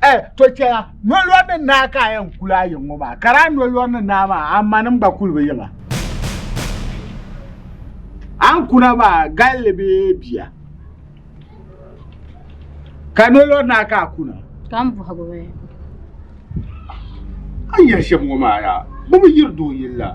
Eh, to chɛya nolɔri ni naa ka a yɛn kuli a yiŋ ŋɔ maa ka daa nolɔri ni naa maa a ma nim gba kuli bi yiŋa an kuna maa galli bɛ bia ka nolɔri naa ka a kuna ka n bɔhigu bɛ a yɛli shɛm ŋɔ maa yaa bi bi yiri doo yili la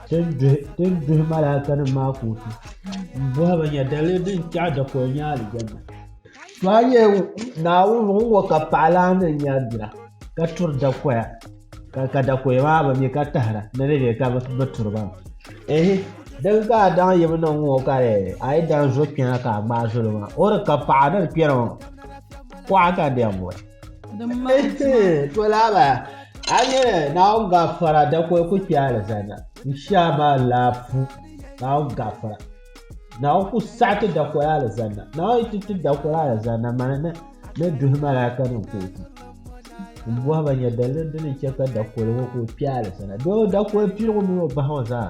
Ti ni duhi malaikanim maa kootu m-bɔhi ba nya, Daliri din tɛɣ dakɔya nyɛ alijanna? To a nya Naawuni ŋun ŋɔ ka paɣilahi ni nya bira ka turi dakɔya ka dakɔya maa bi mi ka tahira ni di be ka bi turi ba mi. Ehi! Din ka a daŋ yim niŋ ŋɔ ka di a yi daa zo kpɛna ka a gbaai zoli maa, o di ka paɣa ni di kpɛna maa, kuɣa ka di yɛn boli. Din mali tima to laaba a nyɛla naawuni gafara dakoli ku kpɛ alizana insha maa laafu naawuni gafara naawuni ku saɣi ti dakoli alizana naawuni ti ti dakoli alizana mani na ni duhi malaika nim kootu n bɔhiba nyɛ daliri dini chɛ ka dakoli ŋɔ ku kpɛ alizana doo dakoli piligu mini o bahi ŋɔ zaa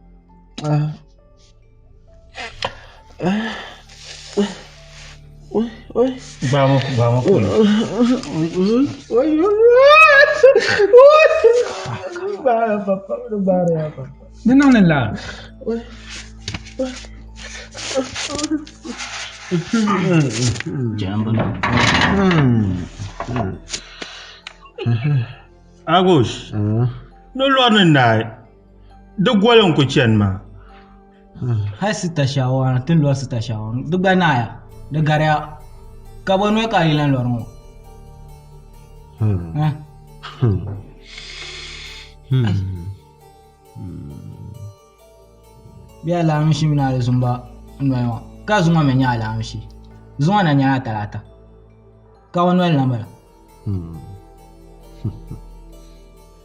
Di niŋmi lan. Agush ni lɔri ni naai. Di goli n ku chani maa. Hal sita shɛŋa ti ni lɔri sita shɛŋa di gba naaya di gariya ka bɔ noli ka a yi lan lɔri ŋɔ. Bɛ alaamisi mini a di zumba noli ŋɔ ka zuŋɔ mi nyɛ alaamisi zuŋɔ na nyɛla talaata ka bɔ noli na bala.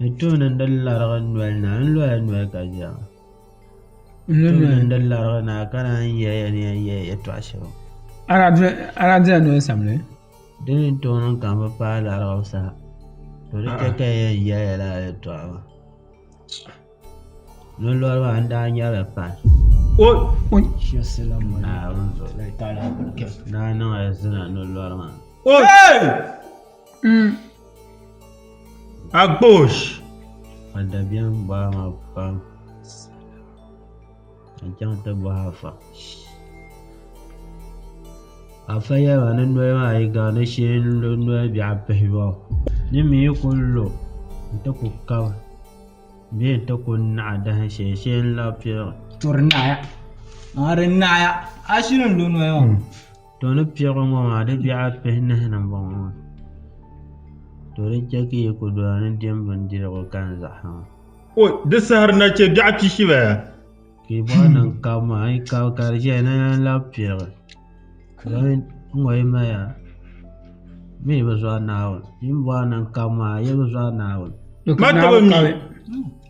N tuuni n di larigi noli na, n loya noli ka ʒiɛm. N tuuni n di larigi na ka naan yi yɛli ya ni yɛn yɛli yɛtɔɣa shɛm. Aradira noli samli. Di ni n tooi niŋ ka n bi paai larigu sa, to di chɛ ka n yɛn yɛli ya lala yɛtɔɣa maa. Nolɔri maa n daa nyɛrili pahi. Naa niŋla zina nolɔri maa. Mm. Agbosh. Adabian baa ma pam. N chaŋ ti bɔhi afa. Afa yɛba ni noli maa yi ga ni shee n lo noli biɛɣu pihi ba. Ni mi yi ku lo n ti ku kab bee n ti ku naɣi dahin shee shee n labi piɛɣu. Turi naɣaya. Maa di naɣaya. A shiri n lo noli maa. to ni piɛɣu ŋɔ maa di biɛɣu pihi nahi ni n bɔŋɔ maa to di chɛ ka yi ku doya ni diɛm bindirigu kani zaɣa maa o di sahari na chɛ biɛɣu pihibaya ka yi bɔɣu niŋ kab maa yi kab ka di ʒɛya ni lan labi piɛɣu doli n ŋɔ yi maya mi yi bi zɔri naawuni yi ni bɔɣu niŋ kab maa yi bi zɔri naawuni ma taba mi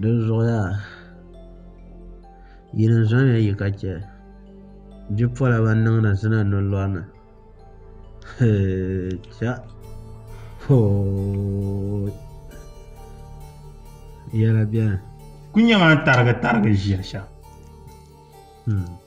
Dinzuɣuyaa, yi ni zɔnya yi ka chɛ bipola ban niŋdi zina ni lɔri ni? Hee, cha! Hoo! Yɛla beni. Ku nyɛ ma n-tarigi tarigi ʒiya shɛm. Hmm.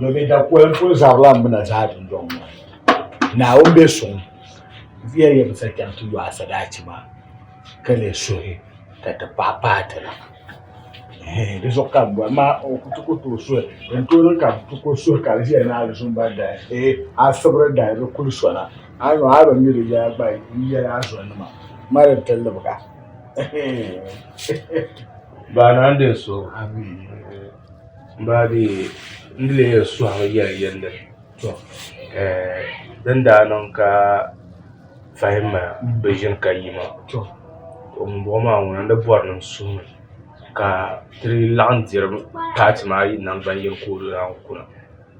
domin da kolim pun zarila m na zaa dundɔŋ ŋɔ ni. Naawuni be suŋ viya yɛn bi sa chaŋ ti yo a sadaachi maa ka leei suhi ka ti paɣi paai ti na. Hee di zuɣu ka m bɔni maa o ku ti ku tooi suhi din tooi niŋ ka m ti ku suhi ka di viya ni a di zuŋ ba dahi hee a sibiri dahi di kuli sona a ni a bi mi di yɛla gba n yɛli a zonima ma di ti libiga hee. Baa naa n-din suhigu. Maa di n di leei suhimi yɛli yɛlli to din daa niŋ ka fahim ma bi ʒini ka yi maa to ŋunbɔŋɔ maa ŋuna n-di bɔri ni n suhimi ka ti laɣim diri paati maa yi naŋgbanyini ka o daa kuna.